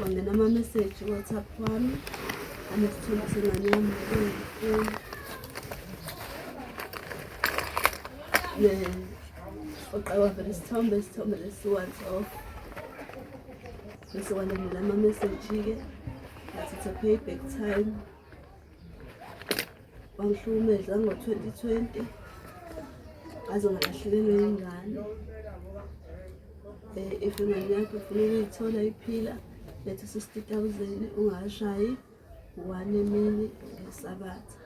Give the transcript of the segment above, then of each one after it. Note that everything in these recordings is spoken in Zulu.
Wangena ama-message WhatsApp wami anesithombe sengane yami uqaba vele isithombe isithombe lesi-once off bese walandela ama-message-ke ngathi it's a payback time wangihlukumeza ngo-2020 ngaze ngalahlekelwe yingane um eh, if ingane yakho ufuna ukuyithola iphila letha sixty thousand ungashayi one emini ngesabatha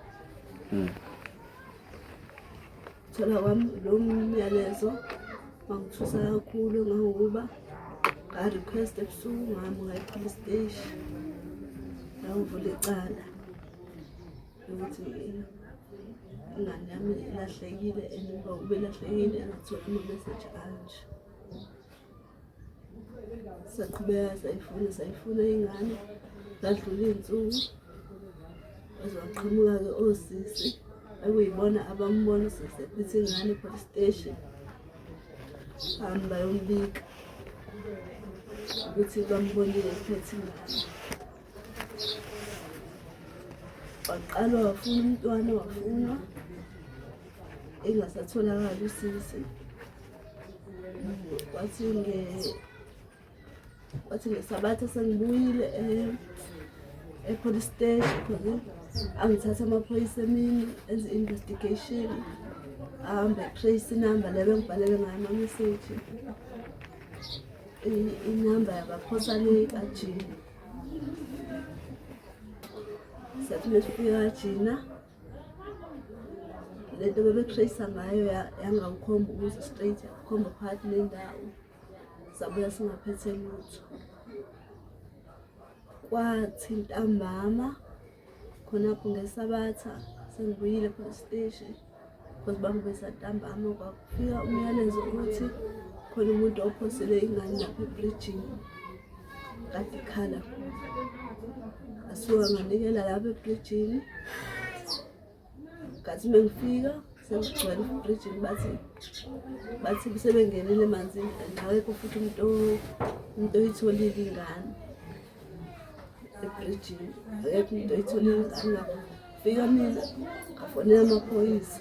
hmm. Thola kwami lo myalezo wangithusa kakhulu ngangokuba nga-request ebusuku ngami ngayiphula isiteshi ngangivula icala ukuthi ingane yami ilahlekile and uba ubelahlekile angatholi ama-message anje saqhubeka sayifuna sayifuna ingane zadlula iy'nsuku ezwaqhamuka-ke osisi ekuyibona abambona usisi ephithe ingane epolice station hamba bayombika ukuthi bambonile ephethe ingane waqalwa wafuna umntwana wafunwa engasatholakali usisi Wathi nge wathi ngesabatha sengibuyile eh, e-police station khona angithatha amaphoyisa emini enze investigation ahambe trace inamba le bengibhalele ngayo amameseji inamba yabaphosa le kajina sathi mesifika kajina le nto bebetrayisa ngayo yangangikhomba ukuze straight yakhomba phakathi nendawo sabuya singaphethe lutho kwathi ntambama khonapho ngesabatha sengibuyile police station because bangibesa ntambama kwakho Fika umyalezo ukuthi khona umuntu ophosele ingane lapha ebridgini kade ikhala asuka nganikela lapha ebridgini ngathi uma ngifika sekugcwele ebridgini bathi bathi sebengenile emanzini and awekho futhi umuntu umuntu oyitholile ingane ebridgini akekho umuntu oyitholile ingane lapho fika mina ngafonela amaphoyisa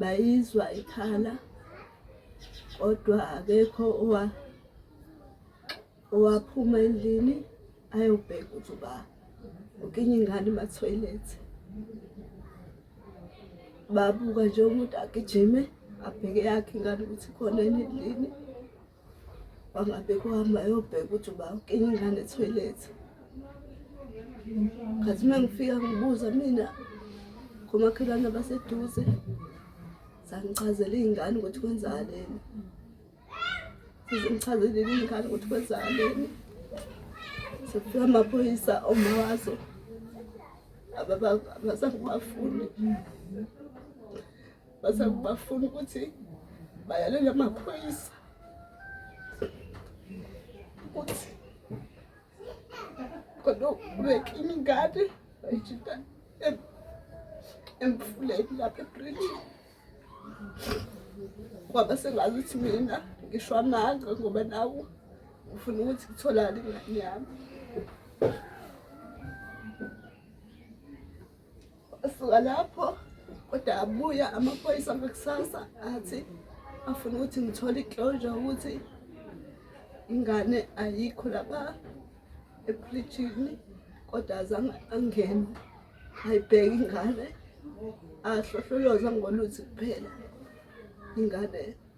bayizwa ikhala kodwa akekho owa owaphuma endlini ayobheka ukuthi uba ukinye ingane emathoyilethi babuka nje umuntu agijime abheke yakhe ingane ukuthi khona endlini wangabheka uhamba ayobheka ukuthi uba ukinga ingane ethoyilethi khathi uma ngifika ngibuza mina komakhelwane abaseduze zangichazela iy'ngane ukuthi kwenzakaleni sezingichazelile iy'ngane ukuthi kwenzakaleni sekufika amaphoyisa oma wazo abasangibafuni base bafuna ukuthi bayalele amaphoyisa ukuthi kodwa ubeke imingane bayijita emfuleni lapha ebridge kwaba sengazi ukuthi mina ngisho amanga ngoba nawo ngifuna ukuthi kutholakale ingane yami Wasuka lapho kodwa abuya amaphoyisa ngakusasa athi afuna ukuthi ngithole iclosure ukuthi ingane ayikho lapha ephilitshini kodwa azange angene ayibheke ingane ahlohloloza ngoluthi kuphela ingane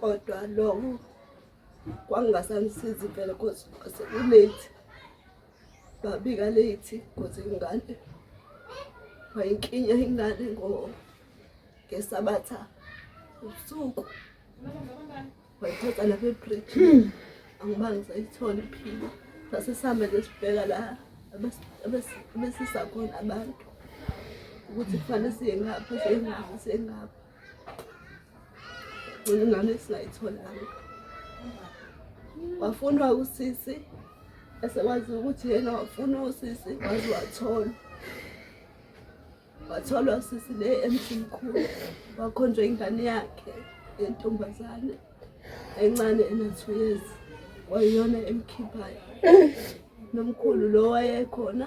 kodwa loko kwangingasanisizi impela cause sekulate babika late cause ingane wayinkinya ingane ngo ngesabatha ubusuku wayithatha lapha ebridge hmm. angiba ngisayithola iphila sase sihambe nje sibheka la abesisakhona abantu ukuthi kufanele siye ngapha siye ngapha siye ngapha ngane singayitholanga wafunwa usisi esekwazi ukuthi yena wafuna usisi waze wathola watholwa usisi le emsimkhulu wakhonjwa ingane yakhe yentombazane encane ena-two years wayiyona emkhiphayo nomkhulu lo wayekhona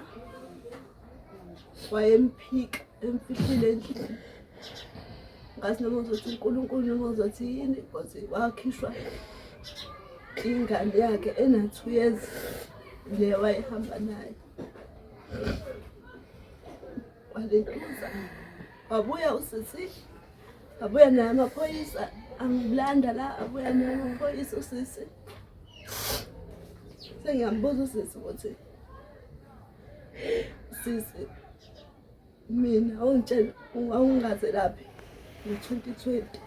wayemphika emfihlile endlini ngathi noma uzothi unkulunkulu noma uzothi yini koze wakhishwa ingane yakhe ena-two years le wayehamba nayo walentuza wabuya usisi wabuya naye amaphoyisa angilanda la abuya naye amaphoyisa usisi sengiyambuza usisi ukuthi sisi mina awungitshela ungaze laphi ngo-twenty twenty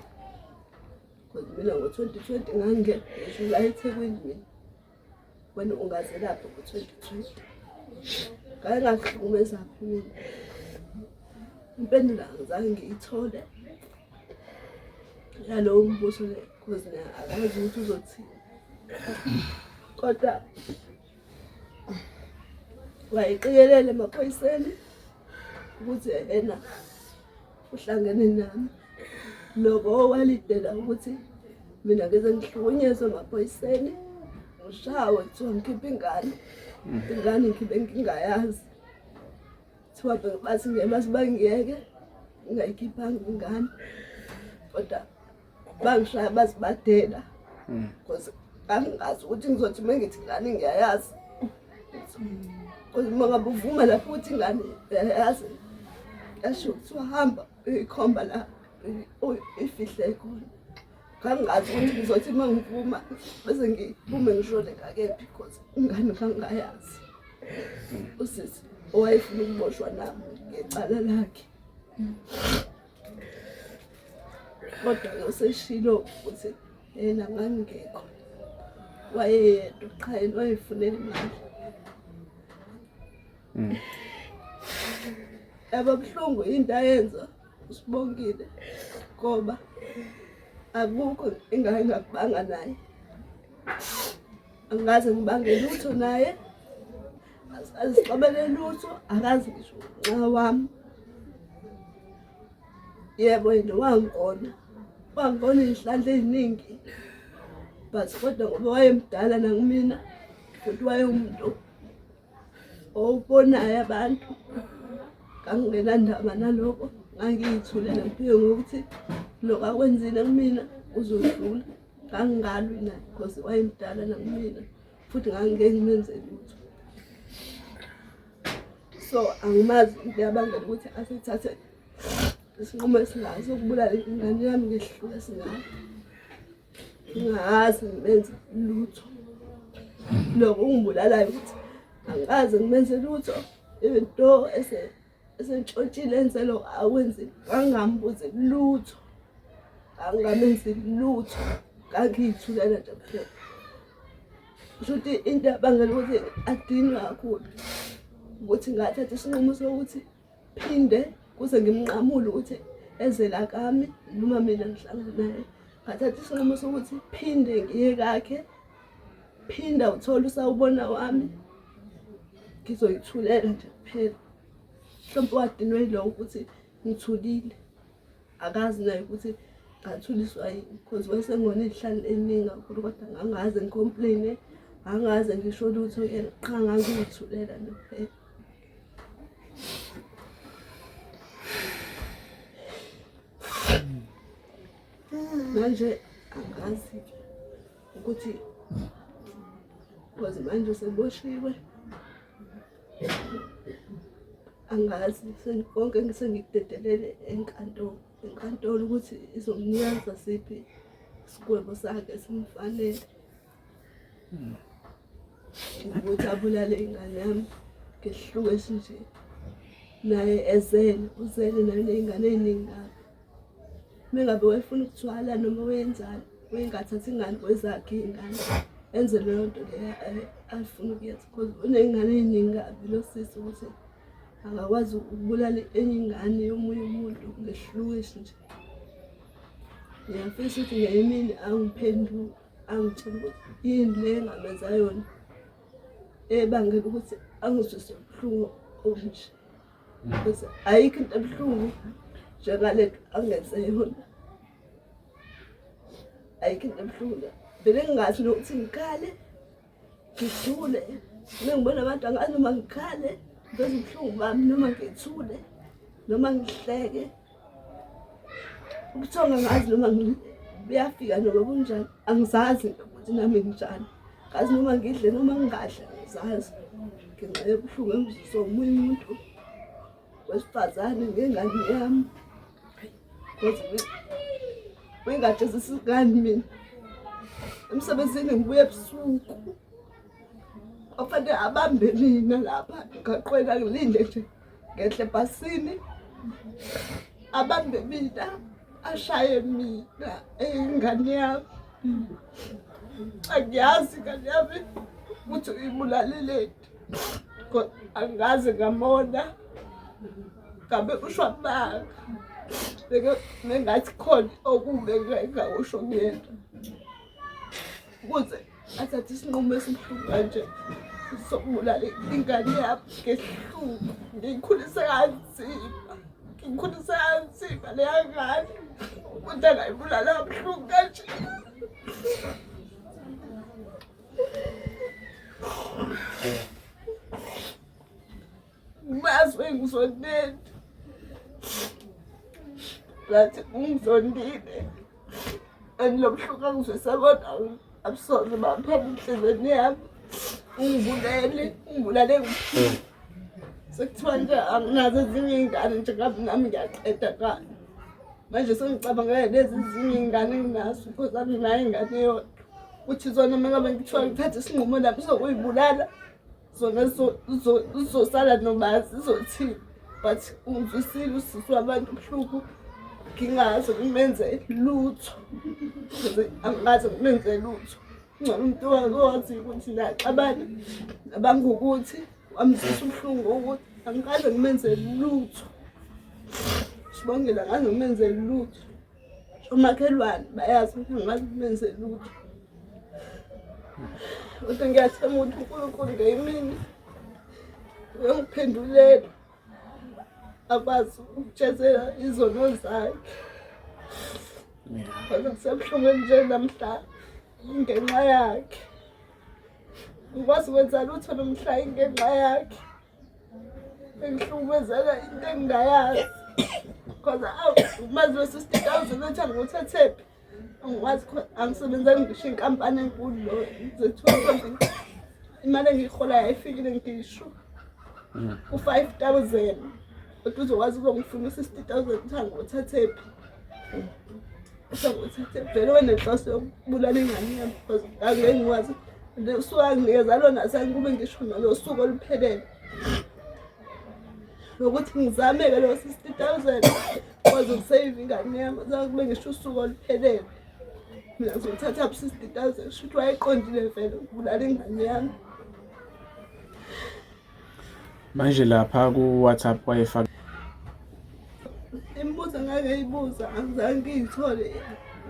because mina ngo-twenty twenty ngangingekho ngisho la ethekwini mina wena ungaze laphi ngo-twenty twenty ngaye ngakuhlukumeza kakhulu impendulo angizange ngiyithole yalowo mbuso le because akwazi ukuthi uzothini kodwa wayeqikelele emaphoyiseni ukuthi yena uhlangene nami loko walidela ukuthi mina ngeze ngihlukunyezwe emaphoyiseni ngishawe kuthiwa ngikhiphe ingane mm. ingane ngikhiphe ngingayazi kuthiwa bathi ngeke basibangiyeke ngingayikhiphanga ingane kodwa bangishaya bazibadela hmm. because angingazi ukuthi ngizothi uma ngithi ngane ngiyayazi because uma ngabe uvuma lapho ukuthi ngane yayazi yasho ukuthi wahamba ikhomba la ifihle khona kangazi ukuthi ngizothi uma ngivuma bese ngiphume ngishone ngakephi because ingane kangayazi usisi owayefuna ukuboshwa nami ngecala lakhe kodwa-ke useshilo ukuthi yena ngangingekho wayeyedwa qha yena wayefunela imali mm. yaba buhlungu into ayenza usibongile ngoba akukho ingane ngakubanga naye angaze ngibange lutho naye azixabele lutho akazi ngisho nxa wami yebo yena wangikona wangikona izihlandla eziningi but kodwa ngoba wayemdala nakumina futhi wayewumuntu owubonayo abantu kangingenandaba naloko ngangiyithulele ngiphiwe ngokuthi lokho akwenzile kumina uzodlula kangingalwi naye because wayemdala nakumina futhi ngangingeke ngenze lutho so angimazi into yabangela ukuthi asithathe isinqumo esingazi ukubulala ingane yami ngehlule singayo ngingazi ngimenze lutho loko ungibulalayo ukuthi angikaze ngimenze lutho into ese Sentshotshile nselo akwenzi angambuzi lutho. Angamenzi lutho. Kangiyithulele nje kuphela. Shuthi into abangela ukuthi adinwe kakhulu ukuthi ngathatha isinqumo sokuthi phinde kuze ngimnqamule ukuthi ezela kami noma mina ngihlangana naye ngathatha isinqumo sokuthi phinde ngiye kakhe phinda uthole usawubona wami ngizoyithulela nje kuphela mhlawumbe wadinwe yilowo ukuthi ngithulile akazi naye ukuthi ngathuliswa yini because wayesengona izihlalo eningi kakhulu kodwa ngangaze ngicomplaine angaze ngisho lutho yena qha ngangiyithulela nje kuphela manje angazi-ke ukuthi cause manje seboshiwe angazi konke ngisengikudedelele enkantolo enkantolo ukuthi izomnyaza siphi isigwebo sakhe simfanele hmm. ukuthi abulale ingane yami ngehluke esinje naye ezele uzele nayo ney'ngane ey'ningi kabi mengabe wayefuna ukuthwala noma wenzani wengathathi ingane kwezakhe iy'ngane enze leyo nto leyo afuna ukuyenza because uney'ngane ey'ningi kabi lo sisi ukuthi angakwazi ukubulala enye ingane yomunye umuntu ngehlukishi nje ngiyafisa ukuthi ngenye imini angiphendule angitshela ukuthi yini le engamenza yona ebangela ukuthi angizwise ubuhlungu obunje because ayikho into ebuhlungu njengale nto angenze yona ayikho into ebuhlungu vele ngingazi nokuthi ngikhale ngithule uma ngibona abantu angazi noma ngikhale ngenza ubuhlungu bami noma ngithule noma ngihleke Kuthiwa ngazi noma buyafika noma kunjani angizazi ukuthi nami nginjani ngazi noma ngidle noma ngingadle angizazi ngenxa yobuhlungu engiziswa omunye umuntu wesifazane ngengane yami wengajezisa ingane mina emsebenzini ngibuye ebusuku kwafanele abambe nina lapha ngaqwela ngilinde nje ngehle bhasini abambe mina ashaye mina eyingane yami angiyazi ingane yami ukuthi uyibulaleleni angazi ngamona ngabe ushwa manga bengathi khona okumbe ngakusho kuyena ukuze athathe isinqumo esibuhlungu kanje sokubulala ingane yami ngesihlungu ngiyikhulise kanzima ngiyikhulise kanzima leya ngane umuntu angayibulala kabuhlungu kanje Mazi engizondile. Ngathi ungizondile. Angilobuhlungu angizwisa kodwa abusoze baphela enhlizweni yami. Ungibulele, ungibulale ngikuphila. Sekuthiwa nje anginazo ezinye iy'ngane nje ngabe nami ngiyaqeda kani. Manje sengicabangela lezi ezinye iy'ngane enginazo because anginayo ingane yodwa. Uthi zona uma ngabe ngithiwa ngithathe isinqumo nami sokuyibulala. zona zizosala noma zizothini but ungizwisile usisi wabantu ubuhlungu ngingaze ngimenze lutho angaze ngimenze lutho ngcono umuntu wakothi ukuthi naxabana nabangukuthi wamzisa ubuhlungu ukuthi angikaze ngimenze lutho sibongela ngaze ngimenze lutho umakhelwane bayazi ukuthi angazi benze lutho kodwa ngiyathemba ukuthi unkulunkulu ngeyimini uyongiphendulela akwazi ukutshezela izono zakhe kodwa kusebuhlungweni nje namhla ngenxa yakhe ngikwazi ukwenza lutho nomhla ingenxa yakhe Ngihlukumezeka into engingayazi because awu umazi wesisiteti awuzobe uthi angiwuthathephi angikwazi khona angisebenzanga ngisho inkampani enkulu lo zethiwa imali engiyiholayo ayifikile ngisho mm. ku-five thousand kodwa uzokwazi ukuzongifuna u-sixty thousand ukuthi angiwuthathephi vele wenenhloso yokubulala ingane yami because angeke ngikwazi usuke anginikeza lona sengikube ngisho nalo suku oluphelele nokuthi ngizameke leyo sixty thousand kwazi ukusave ingane yami sakube ngisho usuku oluphelele mina ngizothatha bu sixty thousand shuthi wayeqondile vele ukubulala ingane yami manje lapha ku-whatsapp wayefaka imibuzo ngake ibuza angizange ngiyithole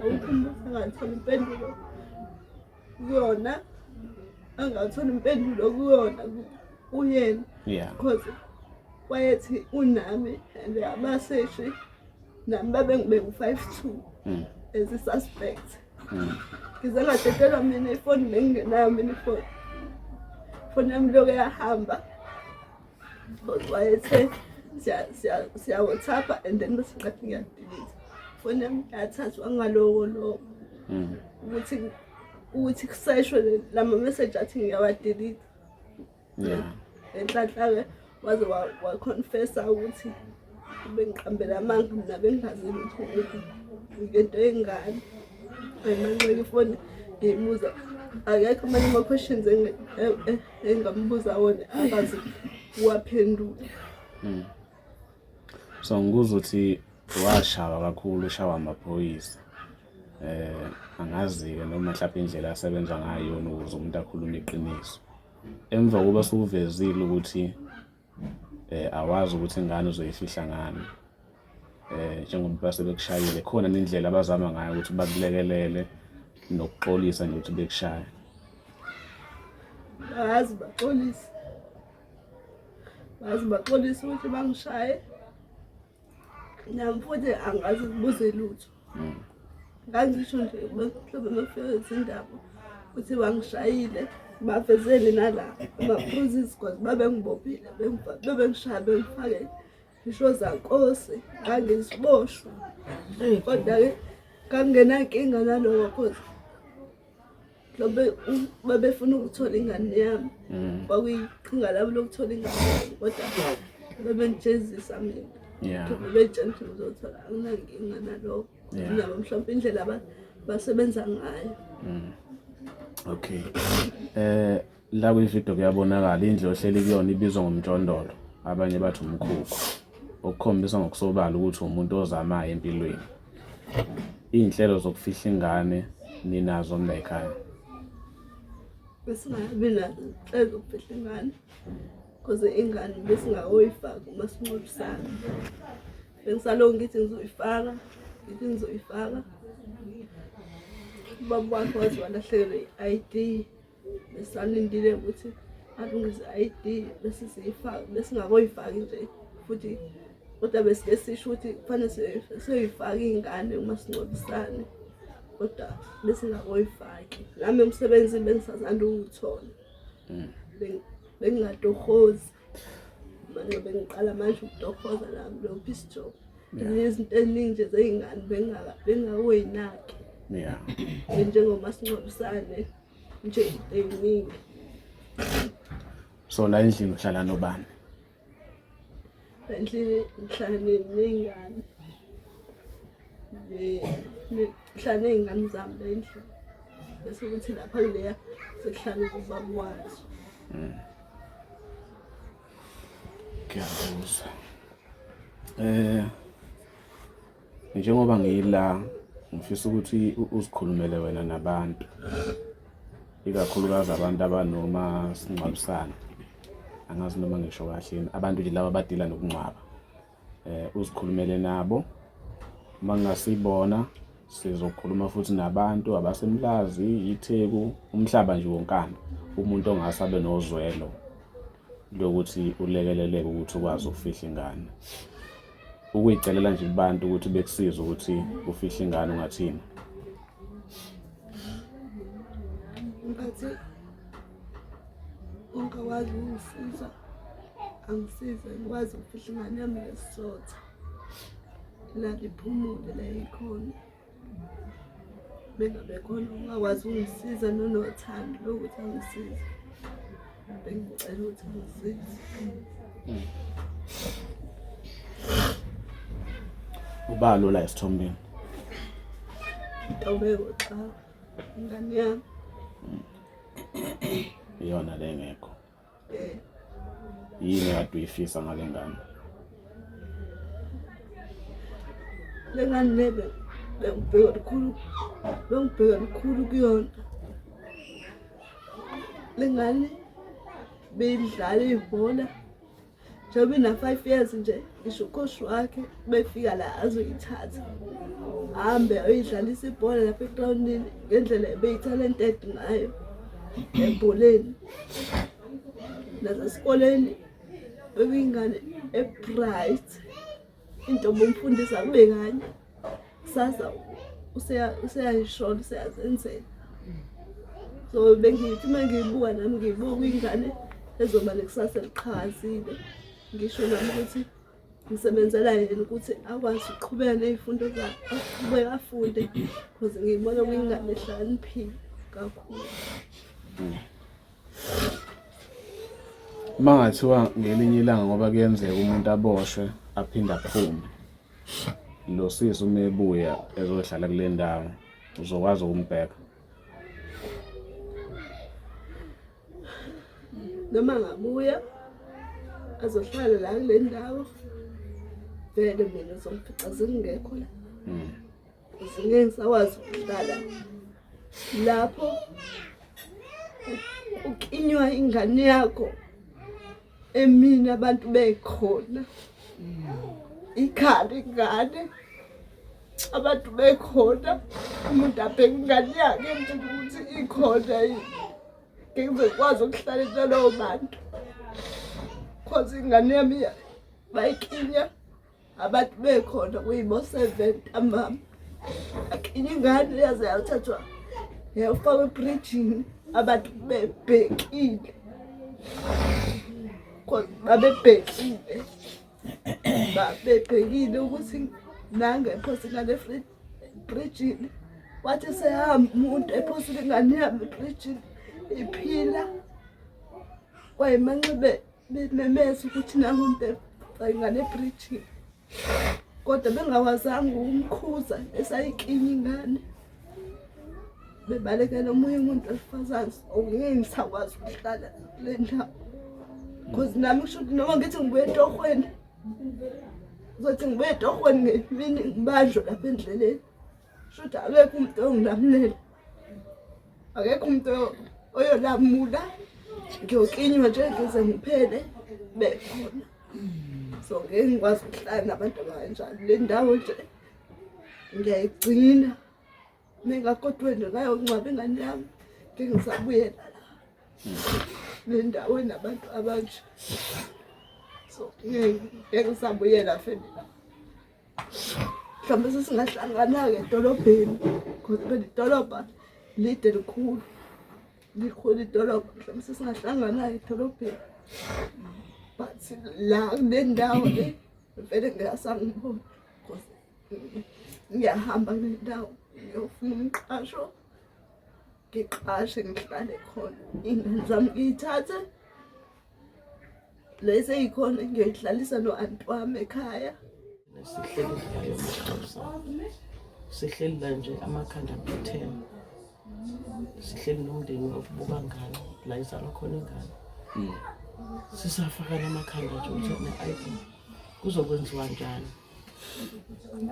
awukho umbuzo angatholi impendulo kuyona angatholi impendulo kuyona kuyena because wayethi unami and abaseshi nami babengibeka u-five two hmm. as a suspect ngize ngadedelwa mina ifoni bengingenayo mina ifoni ifoni yami loke yahamba wayethe siyawothapha and then bese ngathi ngiyadilisa ifoni yami yathathwa ngaloko loko hmm. ukuthi ukuthi kuseshwe lama message athi ngiyawadilita yeah enhlanhla ke waze wa confessa ukuthi bengiqambela amanga mina bengazi ukuthi ngento engani ayimanxeke ifoni ngiyibuza akekho amanye ama-questions e, e, engambuza wona akazi uwaphendule hmm. so ngikuza ukuthi washawa kakhulu ushawa amaphoyisa um angazi-ke noma mhlawumpe indlela asebenza ngayo yona ukuze umuntu akhulume iqiniso Emva kokuba sukuvezile ukuthi eh awazi ukuthi ingane uzoyifihla ngani eh njengoba base bekushayile khona nendlela abazama ngayo ukuthi bakulekelele nokuxolisa nje ukuthi bekushaya bazi baxolisa bazi baxolisa ukuthi bangishaye Nami futhi angazi kubuze lutho. Mm. Ngangisho nje mhlawumbe mafika izindaba ukuthi bangishayile bavezeni nala ama-bruises cause babengibophile bebengishaya bengifake ngisho zankosi ngangiziboshwa kodwa-ke kangingenankinga naloko cause babefuna ukuthola ingane yami mm. kwakuyiqhinga labo lokuthola ingane yami kodwa babengijezisa mina bebetshela ukuthi ngizothola anginankinga naloko nabo mhlawumpe indlela basebenza ngayo mm. okay um La kwividiyo kuyabonakala indlu ohleli kuyona ibizwa ngomjondolo, abanye bathi umkhukhu, okukhombisa ngokusobala ukuthi umuntu ozamayo empilweni. Iy'nhlelo zokufihla ingane ninazo mlayikhaya? Besingabi nazo inhlelo zokufihla ingane cause ingane besingakoyifaki uma sinqolisana. Bengisalokhu ngithi ngizoyifaka, ngithi ngizoyifaka. Ubaba wakhe waze walahlekelwa i-ID. besalindile ukuthi alungise i-ID bese siyifaka besingakoyifaki nje futhi kodwa besike sisho ukuthi kufanele siyoyifaka iy'ngane uma sincobisane kodwa besingakoyifaki nami umsebenzi bengisazanda uwuthola mm. bengingatohozi manje bengiqala manje ukutohoza nami lo peace job izinto eziningi nje zey'ngane bengakoyinaki njengomasingcwabisane nje eyiningi so la endlini uhlala nobani endlini ngihlala ney'ngane ngihlala ney'ngane zami la endlini bese kuthi lapha kuleya sekuhlala ubaba wazo hmm. ngiyakuzwa um eh, njengoba ngila ngifisa ukuthi uzikhulumele wena nabantu ikakhulukazi abantu abanoma singcwabisana angazi noma ngisho kahleni abantu nje laba abadila nokungcwaba eh uzikhulumele nabo uma ngingasibona sizokhuluma futhi nabantu abasemlazi itheku umhlaba nje wonkana umuntu ongase abe nozwelo lokuthi ulekeleleke ukuthi ukwazi ukufihla ingane ukuyicelela nje kubantu ukuthi bekusize ukuthi ufihle ingane ungathini ngathi ungakwazi ukungisiza angisize ngikwazi ukufihla ingane yami ngesizotha la ngiphumule la ikhona bengabe khona ungakwazi ungisiza nonothando lokuthi angisize bengicela ukuthi angisize uba lula esithombeni ntobeko xa ingane yami iyona le ngekho yini kade uyifisa ngale ngane le ngane le bengibheka lukhulu bengibheka lukhulu kuyona le ngane beyidlala ibhola njengoba ina-five years nje ngisho ukoshi wakhe befika la azoyithatha hambe ayoyidlalisa ibhola lapha egrawundini ngendlela ebeyitalented ngayo ebholeni nasesikoleni bebiyingane ebright into bomfundisa kube kanye kusasa useyayishola useyazenzela so bengithi uma ngiyibuka nami ngiyibuka ingane ezoba nekusasa eliqhakazile ngisho nami ukuthi ngisebenzela yena ukuthi akwazi ukuqhubeka ney'fundo zakhe aqhubeke afunde because ngiyibona kuyingane ehlakaniphile kakhulu uma ngathiwa ngelinye ilanga ngoba kuyenzeka umuntu aboshwe aphinde aphume lo sisi uma ebuya ezohlala kule ndawo uzokwazi ukumbheka noma ngabuya azohlala la kule ndawo vele mina zomfica zingekho la hmm. Ngeke ngisakwazi ukuhlala lapho uklinywa ingane yakho emini abantu bekhona ikhali ingane abantu bekhona umuntu abheke ingane yakhe ukuthi ikhona yini ngeke ngikwazi ukuhlala nalowo bantu cause ingane yami bayiklinya abantu bekhona kuyibo-seven amama akinye ingane yaze yathathwa yafakwa ebrijini abantu bebhekile babebhekile babebhekile ukuthi nangephose ingane ebrijini wathi sehamba umuntu ephose ingane yami ebrijini iphila kwayimanxibeni bememeza ukuthi nangu ngane bridge kodwa bengawazanga ukumkhuza esayikini ingane bebalekela omunye umuntu wesifazane ongeke ngisakwazi ukuhlala kule ndawo because nami kusho ukuthi noma ngithi ngibuye etohweni uzothi ngibuye etohweni ngemini ngibanjwe lapha endleleni Shuthi akekho umuntu ongilamulela. Akekho umuntu oyolamula. Ngiyoklinywa nje ngize ngiphele bekhona. So ngeke ngikwazi ukuhlala nabantu abanjalo. Le ndawo nje ngiyayigcina. Ningakodwa nje ngayongcwaba ingane yami. Ngeke ngisabuyela la. Le ndawo enabantu abanje. So ngeke ngisabuyela family. mhlawumbe sesingahlangana-ke edolobheni because phela idolobha lide likhulu likhulu idolobha mhlawumbe sesingahlangana-ke edolobheni but la kule ndawo le vele ngeyasangibona because ngiyahamba kule ndawo ngiyofuna umqasho ngiqashe ngihlale khona ingane zami ngiyithathe lesi eyikhona ngiyoyihlalisa no-anti wami ekhaya sihleli la nje amakhanda kuthena sihleli nomndeni wakubuka ngane la izalwa khona ingane hmm. sisafakana amakhanda nje ukuthi ne-id kuzokwenziwa njani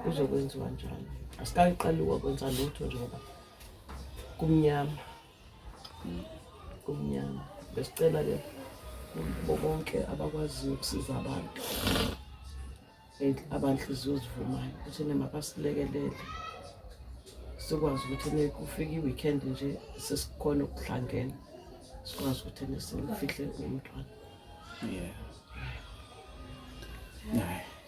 kuzokwenziwa njani asikayiqaliwa kwenza lutho njengoba kumnyama kumnyama besicela ke bo bonke abakwaziyo ukusiza abantu abanhliziyo zivumayo ukuthi nemabasilekelele sikwazi ukuthi nekufika i-weekend nje sesikhona ukuhlangena sikwazi ukuthi nesimfihle umntwana yeah.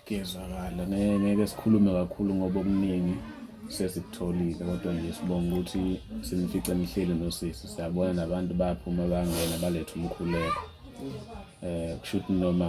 Kuyezwakala, ngeke ngeke sikhulume kakhulu ngoba okuningi sesikutholile kodwa nje sibonga ukuthi sinifice nihleli nosisi siyabona nabantu bayaphuma bangena balethe umkhuleko um kusho ukuthi noma